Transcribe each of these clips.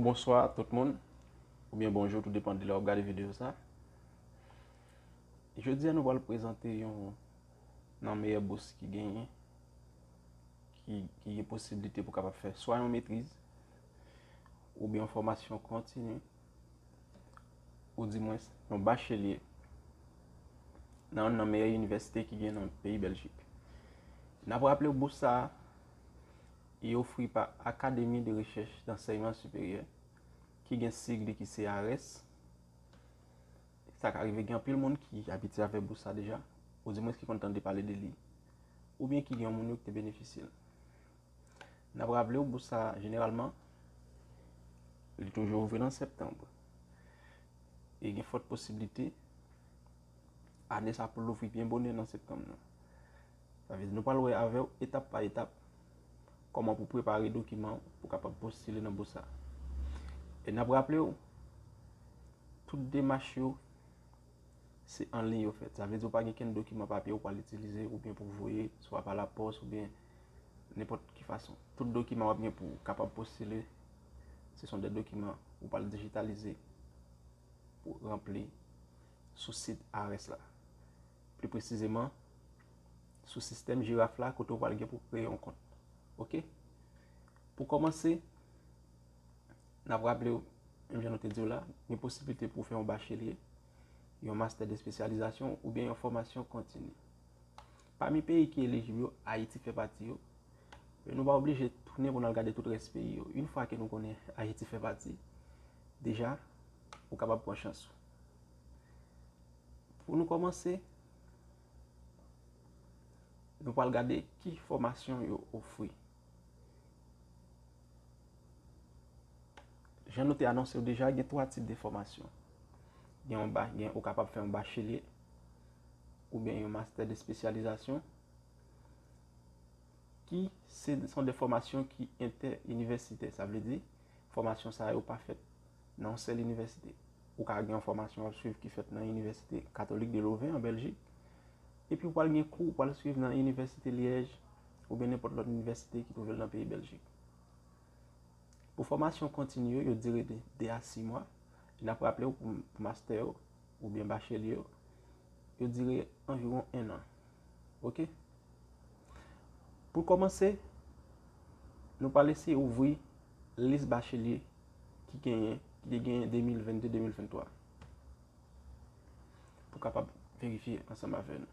Bonswa a tout moun Ou byen bonjou tout depan de la ou gade video sa Jodi a nou wale prezante yon nan meyè bous ki genyen, ki gen posibilite pou kapab fè swa yon metriz, oubyen yon fòmasyon kontini, ou di mwen yon bachelye, nan yon nan meyè inivèsite ki gen nan peyi Bèljik. N ap raple bous sa a, li ofri pa Akademi de Rechèch Dansèyman Siperyè, ki gen sig li ki se ARES, Sa ka rive gen anpil moun ki abitye avèk bous sa deja, odimwens ki konn tande pale de li, oubyen ki gen yon moun yo ki te benefisye l. N ap raple w, bous sa jeneralman, li toujou ouvri nan septanm. E gen fòt posiblite, ane sa pou l ouvri byen bonè nan septanm nan. Sa vle di nou pral wè avè w etap pa etap, kòman pou prepare dokiman w pou kapab postile nan bous sa. E n ap raple w, Tout demach yo se an liy yo fèt. Sa vle di ou pa gen kenn dokiman papye ou pral itilize oubyen pou voye swa pa lapòs oubyen nenpòt ki fason. Tout dokiman wap gen pou kapab postile se son de dokiman ou pral dijitalize pou ranpli sou sit IRS la. Pli presizeman sou sistèm jiraf la kote ou pral gen pou kreye yon kont. Ok. Pou kòmanse. N ap raple w, menm jan nou te di w la, gen posiblite pou w fè yon bachelye, yon mastè de spesyalizasyon oubyen yon fòmasyon kontini. Pami peyi ki elijib yo, Ayiti fè pati yo. Men nou pa oblije tounen pou n al gade tout rès peyi yo. Yon fwa ke nou konnen Ayiti fè pati, deja ou kapab pran chans ou. Pou nou kòmanse, nou pral gade ki fòmasyon yo ofri. Jan nou te anonse yo deja, gen 3 tip de fòmasyon. Gen yon ba, gen ou kapab fè yon bachelier ou byen yon master de spesyalizasyon ki se son de fòmasyon ki entè inivèsitè. Sa vle di, fòmasyon sa yo pa fèt nan yon sèl inivèsite. Ou ka gen yon fòmasyon wap swiv ki fèt nan inivèsite katolik de loven an Belgique, epi wal gen kou wal swiv nan inivèsite Liège, oubyen nenpòt lòt inivèsite ki twouve l nan peyi Bèljik. Pou fòmasyon kontini yo, yo dire de 2 a 6 mwa, e n ap raple w pou mastè yo oubyen bachelye yo, yo dire anviwon 1 an. Ok. Pou kòmanse, nou pral eseye ouvri lis bachelye ki genyen, ki te genyen 2022-2023, pou kapab verifye ansanm avè nou.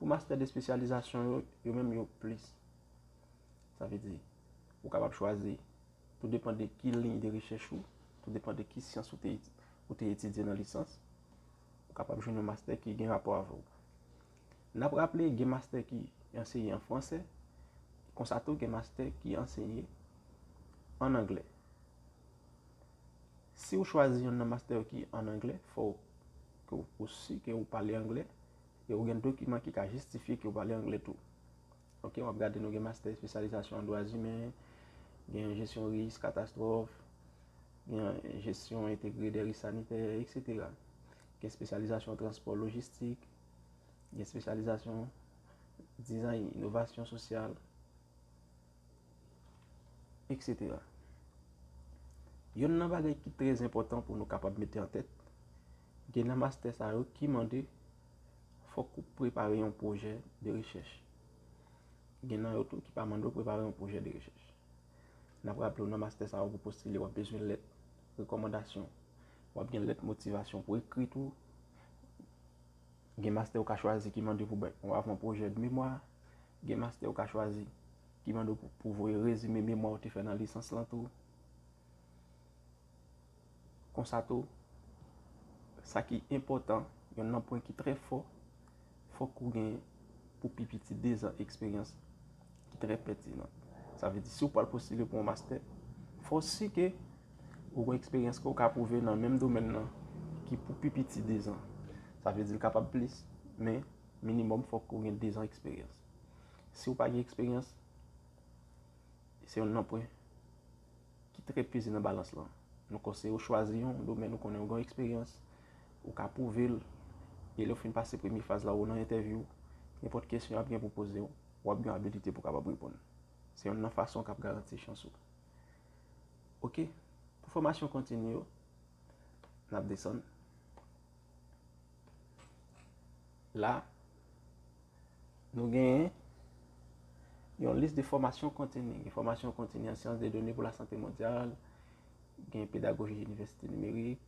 Pou mastè de espesyalizasyon yo, yo menm yo plis. Sa vle di, ou kapab chwazi, tou depan de ki liy de rechèch ou, tou depan de ki syans ou te etidye nan lisans, ou kapab jwenn yon mastè ki gen rapò avè w. N ap raple, gen mastè ki anseye an fransè, konsa tou gen mastè ki anseye an anglè. Si ou chwazi yonn nan mastè yo ki an anglè, fò ou si ke ou pale anglè. E ou gen dokiman ki ka jistifye ke ou pale angle tou. Ok, wap gade nou gen mastè espesyalizasyon an dwa zimen, gen jesyon risk, katastwòf, gen jesyon entegre de risk sanitè, etc. Gen espesyalizasyon transpò lojistik, gen espesyalizasyon dizay inovasyon sosyal, etc. Yonn nan bagay ki trèz enpòtan pou nou kapab mete an tèt, Gen nan mastè sa yo ki mande fòk ou prepare yon pwojè de rechèch. Gen nan yo tou ki pa mande ou prepare yon pwojè de rechèch. N ap raple w nan mastè sa yo pou postile w ap bezwen lèt rekòmandasyon, w ap gen lèt motivasyon pou ekri tou. Gen mastè ou ka chwazi ki mande pou bay yon avan pwojè de memwa. Gen mastè ou ka chwazi ki mande w pou voye rezime memwa ou te fè nan lisans lan tou. Konsa tou, sa ki enpòtan, yonn nan pwen ki trè fò, fòk ou gen pou pi piti dezan eksperyans ki trè pètinan. Sa vle di si ou pral postile pou yon mastè, fò w si ke ou gen eksperyans ke ou ka pwouve nan menm domèn nan ki pou pi piti dezan. Sa vle di l kapab plis, men minimòm fòk ou gen dezan eksperyans. Si ou pa gen eksperyans, se yonn nan pwen. Ki trèt peze nan balans lan? Nou konseye w chwazi yon domèn ou konnen ou gen eksperyans, ou ka pwouve l, e lè w fin pase premye faz la ou nan entèvyou, nenpòt kesyon y ap gen pou poze w, w ap gen abilite pou w kapab reponn. Se yonn nan fason k ap garanti chans ou. Ok, pou fòmasyon kontini yo, n ap desann. La, nou genyen yon lis de fòmasyon kontini. Gen fòmasyon kontini an syans de done pou la sante mondyal, gen pedagoji inivèsite nimerik,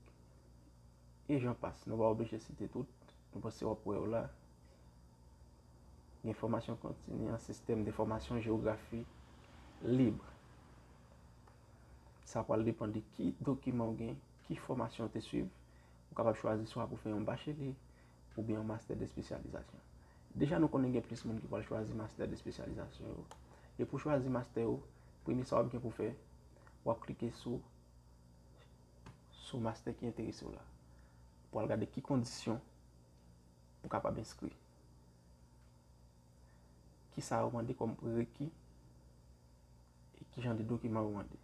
e jan pas. Nou pa oblije site tout, nou pa se wap wè yo la. Gen fòmasyon kontini an sistèm de fòmasyon jewografi libre. Sa pral depan de ki dokiman ou gen, ki fòmasyon ou te swiv, Ou kapab chwazi swa pou fè yon bachele oubyen yon mastè de spesyalizasyon. Deja nou konnen gen plis moun ki pral chwazi mastè de spesyalizasyon yo. E pou chwazi mastè ou, premye sa wap gen pou fè, wap klike sou sou mastè ki enterese w la. Pou al gade ki kondisyon pou kapab enskri. Kisa yo mande kòm prereki e kijan de dokiman yo mande.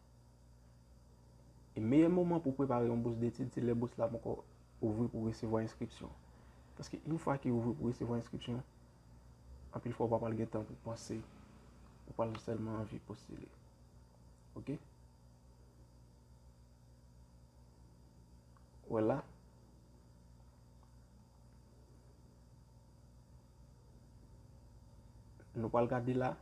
E meyè moman pou prepare yon bous detid se lè bous la poko ouvri pou resevwa enskripsyon. Paske yon fwa ki ouvri pou resevwa enskripsyon, anpil fwa ou pa pral gen tan pou panse, ou pral sèlman anvi postile. Ok? Wè la? Nou pral gade la,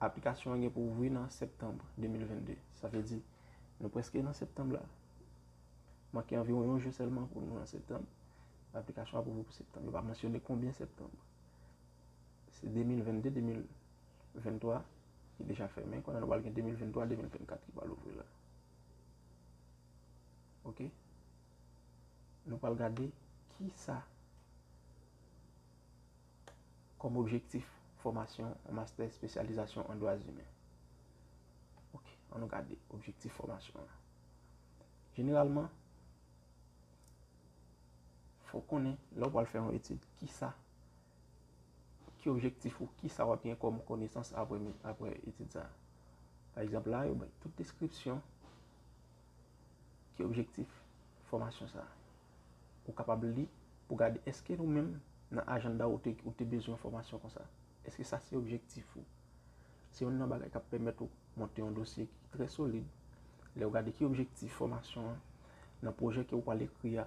aplikasyon an gen pou ouvri nan septanm 2022. Sa vle di, nou preske nan septanm la. Manke anviron yon jou selman pou nou nan septanm. Aplikasyon ap ouvri pou septanm. Yo pa mansyone konbyen septanm. Se 2022, 2023 ki deja fèmen. Kounye a nou pral gen 2023, 2024 ki pral ouvri la. Ok? Nou pral gade kisa kòm objektif fòmasyon yon mastè espesyalizasyon an dwa zimen. Ok, an nou gade objektif fòmasyon an. Jeneralman, fò konnen lè ou pral fè yon etid, kisa, ki objektif ou, kisa wap gen kòm konesans apre etid sa. Pa egzanp la, yo bay tout deskripsyon. Ki objektif fòmasyon sa a? Ou kapab li pou gade eske nou menm nan ajanda ou te bezwen yon fòmasyon konsa. Eske sa se objektif ou? Se yon nan bagay k ap pèmèt ou monte yon dosye ki trè solid. Lè ou gade ki objektif fòmasyon an, nan pwojè ke ou pral ekri a,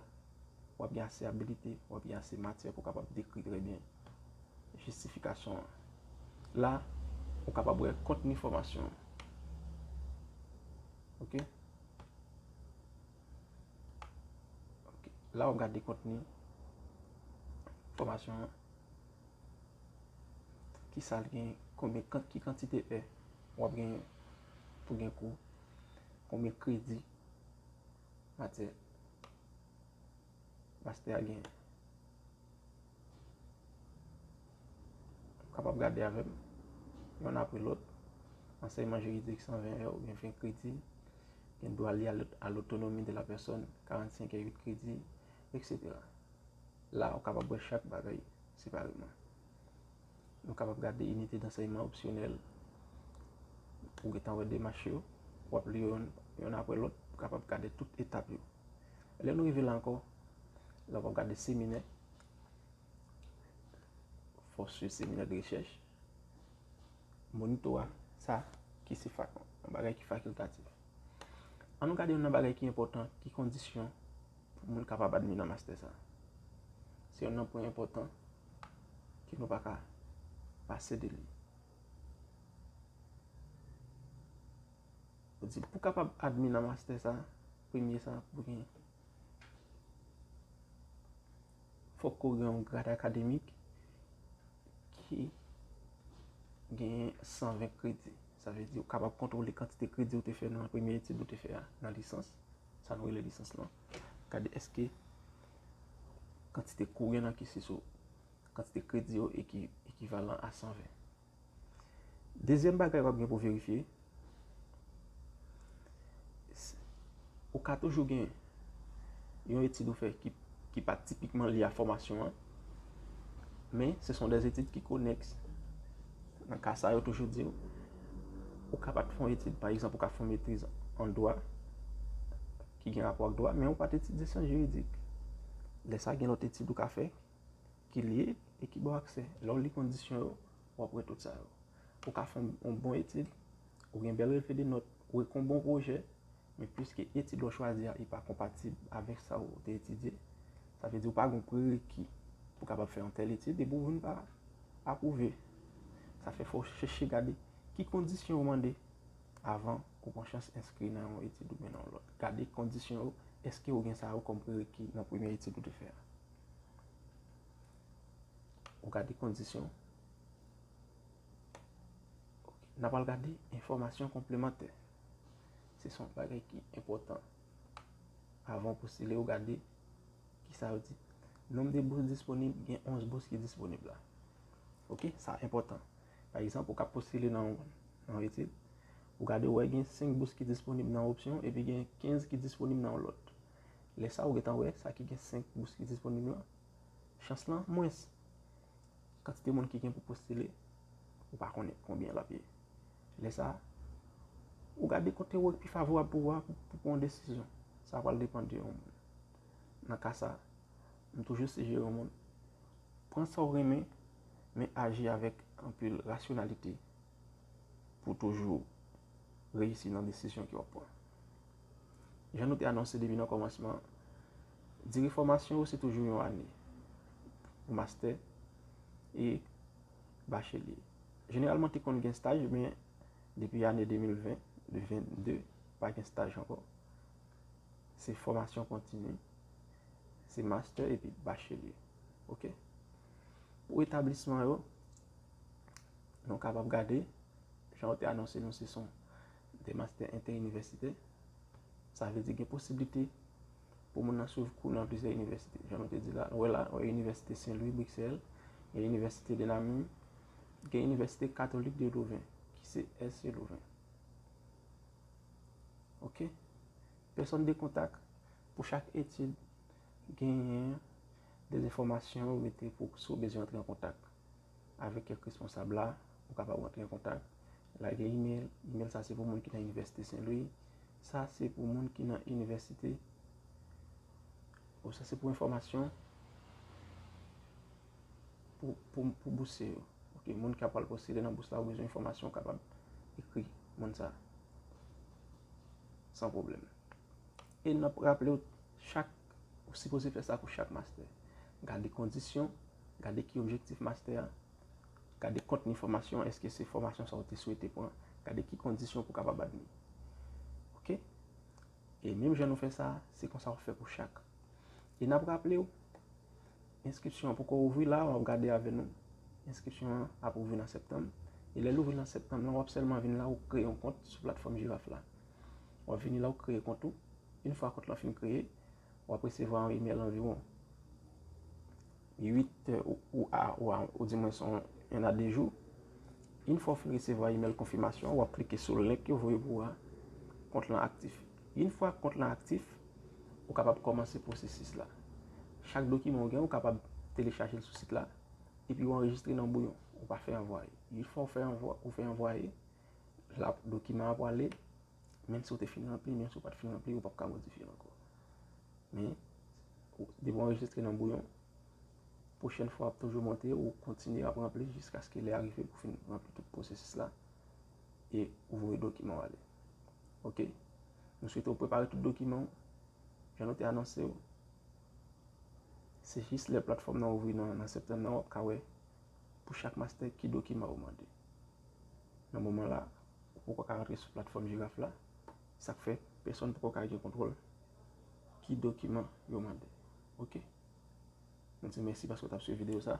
w ap gen ase abilite, w ap gen ase matyè pou w kapab dekri trè byen jistifikasyon an. La, ou kapab wè kontni fòmasyon an. Ok Ok La wap gade kontni Fomasyon an Ki sal gen Konbyen kant ki kantite e Wap gen Pou gen kou Konbyen kredi Matyè Pastè a gen. Ou kapab gade avè m. Yonn apre lòt. Ansèyman jiridik 120 è oubyen 20 kredi. Gen dwa li a lotonomi de la pèsòn 45 è 8 kredi, eksetera. La ou kapab wè chak bagay separeman. Nou kapab gade Inite dansèyman opsyonèl ou gentan wè demach yo, w ap li yo yonn apre lòt, ou kapab gade tout etap yo. Lè nou rive la ankò, la w ap gade seminè, fò swiv seminè de rechèch, monito a, sa ki se yon bagay ki fakultatif. An nou gade yon nan bagay ki enpòtan, ki kondisyon Pou moun kapab admi nan mastè sa. Se yon nan pwen enpòtan ke nou pa ka pase de li. Pou di pou kapab admi nan mastè sa, premye sa pou gen. Fòk ko gen yon grad akademik ki gen 120 kredi. Sa ve di ou kapab kontwole kantite kredi ou te fè nan premye etid ou te fè a nan lisans. Sa nou rele lisans lan. Gade eske kantite kou gen nan kise sou kantite kredi yo ekivalan a 120. Dezyèm bagay wap gen pou verifye, ou ka toujou gen yon etid ou fè ki pa tipikman li a fòmasyon an. Men, se son de etid ki konèks. Nan ka sa yo toujou di yo, ou ka pat fon etid, pa egzanp, ou ka fon metriz an dwa, ki gen rapò ak dwa, men ou pat etidye syans jiridik. Lè sa gen lòt etid ou ka fè, ki lye, e ki ba w aksè. Lè w li kondisyon yo, w ap wè tout sa yo. Ou ka fon yon bon etid, ou gen bèl relevedenote, ou ekri yon bon pwojè, Men piske etid wap chwazi a epa konpatib avèk sa ou te etidye, sa vle di ou pa gen yon prereki pou kapab fè yon tèl etid epi ou vin pa apwouve. Sa fè fò chèche gade ki kondisyon yo mande avan ou pran chans enskri nan yon etid oubyen nan yon lòt. Gade kondisyon yo, eske ou gen sa yo kòm prereki nan premye etid ou te fè a. Ou gade kondisyon. Nap al gade enfòmasyon konplemantè. Se son bagay ki enpòtan. Avan w postile ou gade ki sa yo di. Nom de bous disponib, gen 11 bous ki disponib la. Ok, sa enpòtan. Pa egzanp, ou ka postile nan yon etid, ou gade ou wè gen 5 bous ki disponib nan yon opsyon, epi gen 15 ki disponib nan yon lòt. Lè sa ou gentan wè, sa ki gen 5 bous ki disponib lan, chans lan mwens. Kantite moun ki gen pou postile, ou pa konnen konbyen l ap ye. Lè sa a, ou gade kote wè ki pi favorab pou ou a pou pran yon desizyon. Sa pral depan de yon moun. Nan ka sa, m toujou sijere yon moun, pran sa ou renmen, men aji avèk anpil rasyonalite pou toujou reyisi nan desizyon ke w ap pran. Jan nou te anonse depi nan kòmansman, dire fòmasyon ou se toujou yon ane pou mastè e bachelye. Jeneralman te konn gen staj men depi ane 2020, 22 pa gen staj ankò. Se fòmasyon kontini, se mastè epi bachelye. Ok. Pou etablisman yo, nou kapab gade, jan yo te anonse nou se son de mastè entè inivèsitè, sa vle di gen posiblite pou moun nan swiv kou nan plizyè inivèsite. Jan nou te di la, nou wè la, nou wè inivèsite Sen Lwi, Briksèl, gen inivèsite de la Min, gen inivèsite katolik de Louven, ki se SC Louven. Ok. Pèsòn de kontak, pou chak etid, genyen de enfòmasyon ou mete pou si ou bezwen antre an kontak avèk kèk responsab la, ou kapab antre an kontak, lage email, email sa se pou moun ki nan inivèsite Sen Lwi, Sa se pou moun ki nan inivèsite ou sa se pou enfòmasyon pou bousye yo. Ok, moun ki ap al postile nan bous la ou bezwen enfòmasyon ou kapab ekri moun sa. San pwoblèm. E nap raple ou chak ou sipoze fè sa pou chak mastè. Gade kondisyon, gade ki objektif mastè a. Gade kontni fòmasyon, èske se fòmasyon sa ou te swete pran, gade ki kondisyon pou kapab admi. Ok. E menm jan nou fè sa, se konsa ou fè pou chak. E nap raple ou, enskripsyon an poko ouvri la, wap gade avè nou, enskripsyon an ap ouvri nan septanm, e lèl ouvri nan septanm lan wap sèlman vin la ou kreye yon kont sou platfòm jiraf la. Wap vini la ou kreye kont ou, in fwa kont lan fin kreye, W ap resevwa yon imèl anviwon 8 tè ou di mwen son 1 a 2 jou. Yn fwa w fin resevwa imèl konfimasyon an, w ap klike sou link yo voye pou ou a, kont lan aktif. Yn fwa kont lan aktif, ou kapab kòmanse pwosesis la. Chak dokiman ou gen, ou kapab telechaje l sou sit la, epi ou anrejistre nan bouyon. Ou pa fè anvwaye. Yn fwa ou fè anvwaye, dokiman an pwale Menm si ou te fin ranpli, menm si ou pa t fin ranpli, ou pap ka modifye l ankò. Men, depi ou anrejistre nan bouyon, pwochèn fwa ap toujou monte ou kontinye ap ranpli jiskaske lè a rive pou fin ranpli tout pwosesis la e ou voye dokiman ou ale. Ok, nou swete ou prepare tout dokiman ou, jan nou te anonse ou, se jis lè platfòm nan ouvri nan septanm nan wap ka wè pou chak mastè ki dokiman ou mande. Nan moman la, ou poko ka rantre sou platfòm Jiraf la, sa k fè pèsòn poko ka gen kontwòl ki dokiman yo mande. Ok. Nou di mèsi paske w t ap swiv videyo sa.